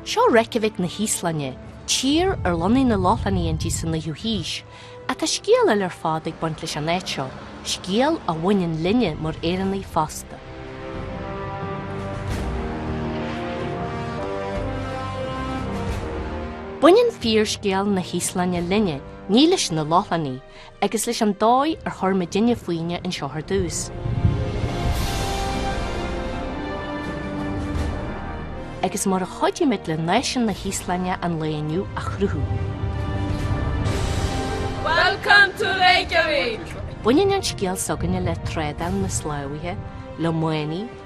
Seo Reykjavik na hÍoslainne, tír ar lonnaigh na Lochlannaigh inti sa 9ú haois. Ach tá scéal eile ar fad ag baint leis an áit seo, scéal a bhaineann linne mar Éireannaigh fosta. Baineann fíorscéal na hÍoslainne linne, ní leis na Lochlannaigh. agus leis an dóigh ar chuir muidinne fúinne anseo ar dtús. agus mar a chuidigh muid le náisiún na hÍoslainne an lae inniu a chruthú. Welcome to Reykjavik! Baineann an scéal s'againne le trádáil na sclábhaithe, le manaigh,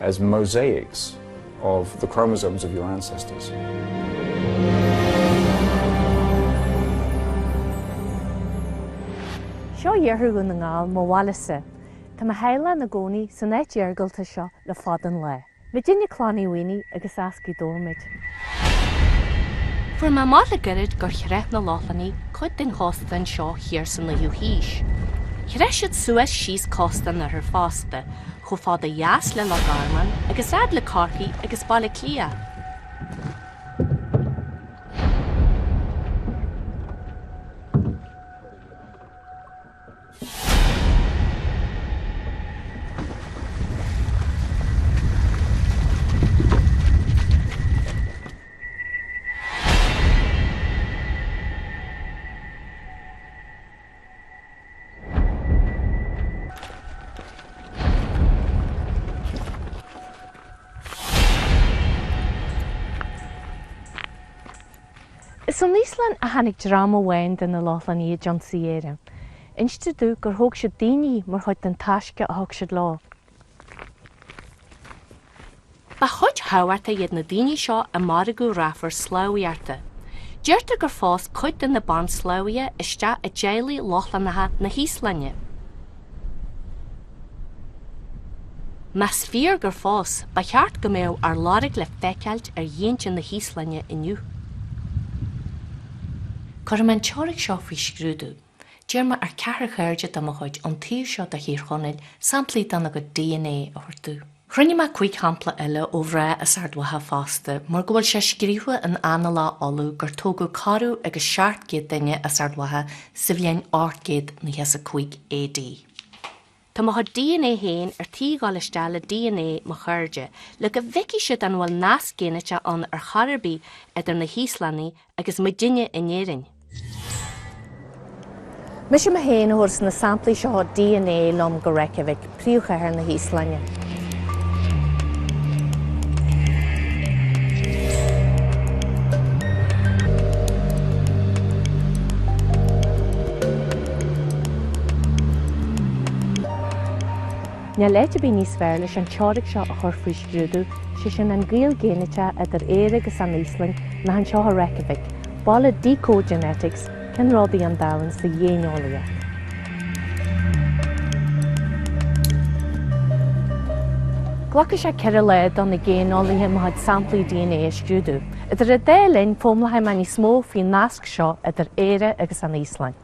as mosaics of the chromosomes of your ancestors. Seo iarthar Dhún na nGall, mo bhaile-sa. Tá mo theaghlach ina gcónaí san áit iargulta seo le fada an lá. Muidinne Clann Uí Mhaonaigh agus as Gaoth Dobhair muid. Fuair mé amach le goirid gur chreach na Lochlannaigh cuid den chósta anseo thiar sa 9ú haois. Chreach siad suas síos cósta an oirthir fosta, chomh fada ó dheas le Loch Garman agus fhad le Corcaigh agus Baile Átha Cliath. Is ón Íoslainn a tháinig dream amháin de na Lochlannaigh a d'ionsaigh Éire. Instear domh gur thóg siad daoine mar chuid den taisce a thug siad leo. Ba chuid thábhachtach iad na daoine seo i margadh rafar sclábhaíochta. Deirtear gur phós cuid de na bansclábhaithe isteach i dteaghlaigh Lochlannacha na hÍoslainne. Más fíor gur phós, ba cheart go mbeadh ár lorg le feiceáilt ar ghéinte na hÍoslainne inniu. Cuirfidh mé an teoiric seo faoi scrúdú. D'iarr mé ar cheathrar cairde de mo chuid ón taobh seo de Thír Chonaill samplaí dena gcuid DNA a thabhairt domh. Chruinnigh mé cúig shampla eile ó mhná as Ard Mhacha fosta mar go bhfuil sé scríofa in Annála Uladh gur tógadh corradh agus seacht gcéad duine as Ard Mhacha sa bhliain 895 AD. Tá mo chuid dna féin ar tí dhul isteach le dna mo chairde le go bhfeicfidh siad an bhfuil nasc géiniteach ann ar chor ar bith idir na hÍoslannaigh agus muidinne in Éirinn. Mise mé féin a thabharfas na samplaí seo dna liom go Reykjavik, príomhchathair na hÍoslainne. Níl áit ar bith níos fearr leis an teoiric seo a chur faoi scrúdú, sé sin an gaol géiniteach idir Éire agus an Íoslainn, ná anseo i Reykjavik, baile Decode Genetics. Ceannródaí an domhain sa ghéineolaíocht. Glacfaidh sé ceithre lá do na géineolaithe mo chuid samplaí dna a scrúdú. Idir an dá linn, foghlaimeoidh mé níos mó faoin nasc seo idir Éire agus an Íoslainn.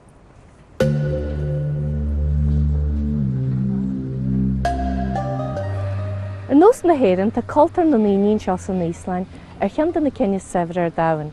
Ar nós na hÉireann, tá cultúr na ndaoine anseo san Íoslainn ar cheann de na cinn is saibhre ar domhan.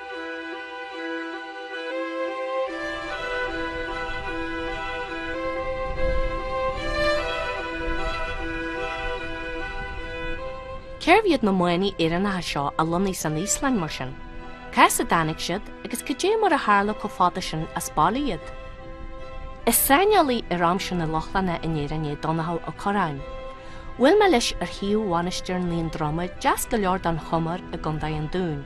Cérbh iad na manaigh Éireannacha seo a lonnaigh san Íoslainn mar sin? Cá has a dtáinig siad agus cad é mar a tharla chomh fada sin as baile iad? Is saineolaí ar aimsir na Lochlannach in Éirinn é Donnchadh Ó Corráin. Bhuail mé leis ar shuíomh Mhainistir Naondroma deas go leor don Chomar i gContae an Dúin.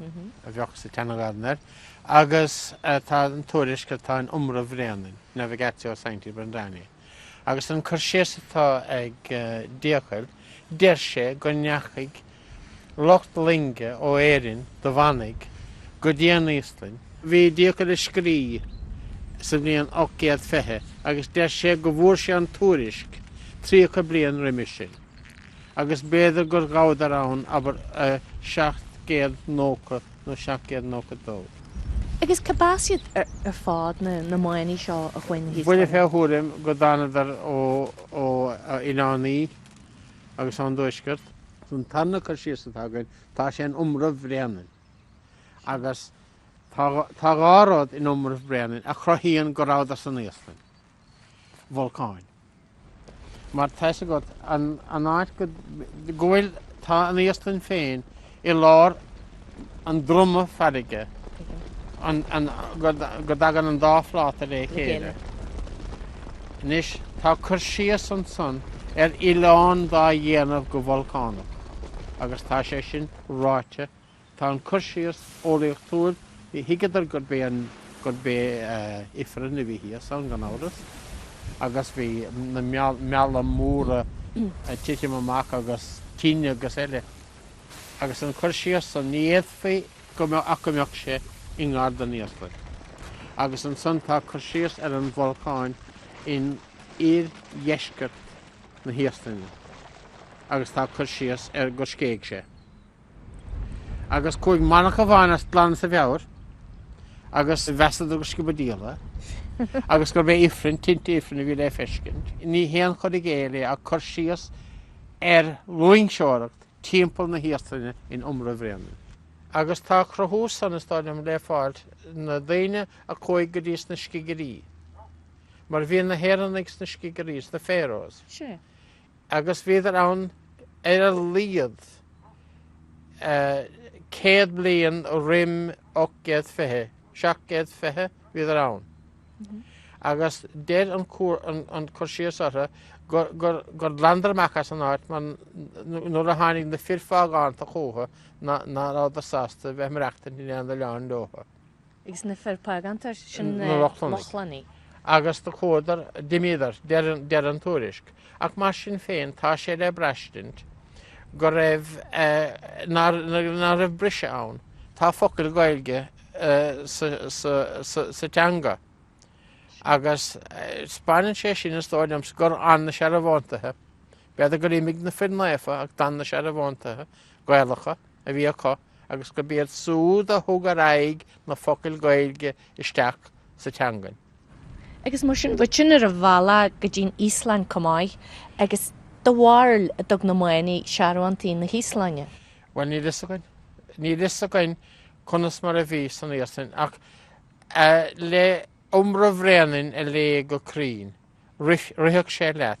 a bheadh sa tSeana-Ghaelainn air, agus tá an tuairisc atá in Iomramh Bhréanainn, Navigatio Sancti Brendani, agus an cur síos atá ag Dícuil, deir sé go ndeachaigh lucht loinge ó Éirinn de mhanaigh go dtí an Íoslainn. Bhí Dícuil ag scríobh sa bhliain 820, agus deir sé go bhfuair sé an tuairisc tríocha bliain roimis sin. agus b'fhéidir gur ghabhadar ann, abair, i 790 nó 792. Agus cárb as iad ar fad na manaigh seo a chuaigh inti? Buille fé thuairim go dtánadar ó oileán Í agus ón dtuaisceart. An tarna cur síos atá againn tá sé in Iomramh Bhréanainn. Agus tá dhá rud in Iomramh Bhréanainn a chruthaíonn go rabhadar san Íoslainn. Bolcáin. Mar tá 'fhios agat an áit go bhfuil, tá an Íoslainn féin i lár an droma farraige go dtagann an dá phláta le chéile. Anois, tá cur síos ansan ar oileán dá dhéanamh go bolcánach agus tá sé sin ráite Tá an cur síos eolaíochtúil, ní thuigeadar gurb é an, gurb é ifreann a bhí thíos ann, gan amhras, agus bhí na mealla móra ag titim amach agus tine agus eile. Agus an cur síos san, ní fhéadfaí go mbeadh ach go mbeadh sé i ngar don Íoslainn. Agus ansan tá cur síos ar an bholcáin in oir-dheisceart na hÍoslainne agus tá cur síos ar gur scéigh sé. agus chuaigh manach amháin as, glan as a mheabhair agus mheasadar gur sciob an diabhal é agus gurb é Ifreann, tinte Ifrinn a bhí le feiscint. Ní haon chur i gcéill é ach cur síos ar loingseoireacht timpeall na hÍoslainne in Iomramh Bhréanainn. Agus tá a chruthú san, is dóigh liom, le fáil sna daoine a chuaigh go dtí sna Scigirí. Mar bhí na hÉireannaigh sna Scigirí, sna Faeroes. Sea. agus bhíodar ann ar a laghad céad bliain roim ocht gcéad fiche, seacht gcéad fiche bhíodar ann agus deir an an cur síos orthu gur gur ghlanadar amach as an áit mar nuair a tháinig na fir phágánta chúthu ná rabhadar sásta bheith ag maireachtaint in aon oileán leothu. agus na fir págánta sin na Lochlannaigh. Agus do chuadar, d'imíodar, deir an tuairisc. Ach mar sin féin tá sé le braistint go raibh, ná raibh briseadh ann. Tá focail Ghaeilge sa teanga agus spáineann sé sin, is dóigh liom, gur fhan na searbhóntaithe, b'fhéidir gur imigh na fir naofa ach d'fhan na searbhóntaithe Gaelacha, a bhí acu agus gurb iad súd a thug ar aghaidh na focail Gaeilge isteach sa teangain. Agus mar sin bhí sin ar an bhealach go dtí'n Íoslainn comh maith agus do bharúil an dtug na manaigh searbhóntaí na hÍoslainne? Bhuel níl fhios againn. Níl fhios againn conas mar a bhí san Íoslainn ach le Iomramh Bhréanainn a léamh go cruinn, rithfeadh sé leat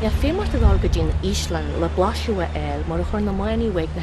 Bheadh feidhm ort a dhul go dtí an Íoslainn le blaiseadh a fháil mar a chuir na manaigh uaidh na.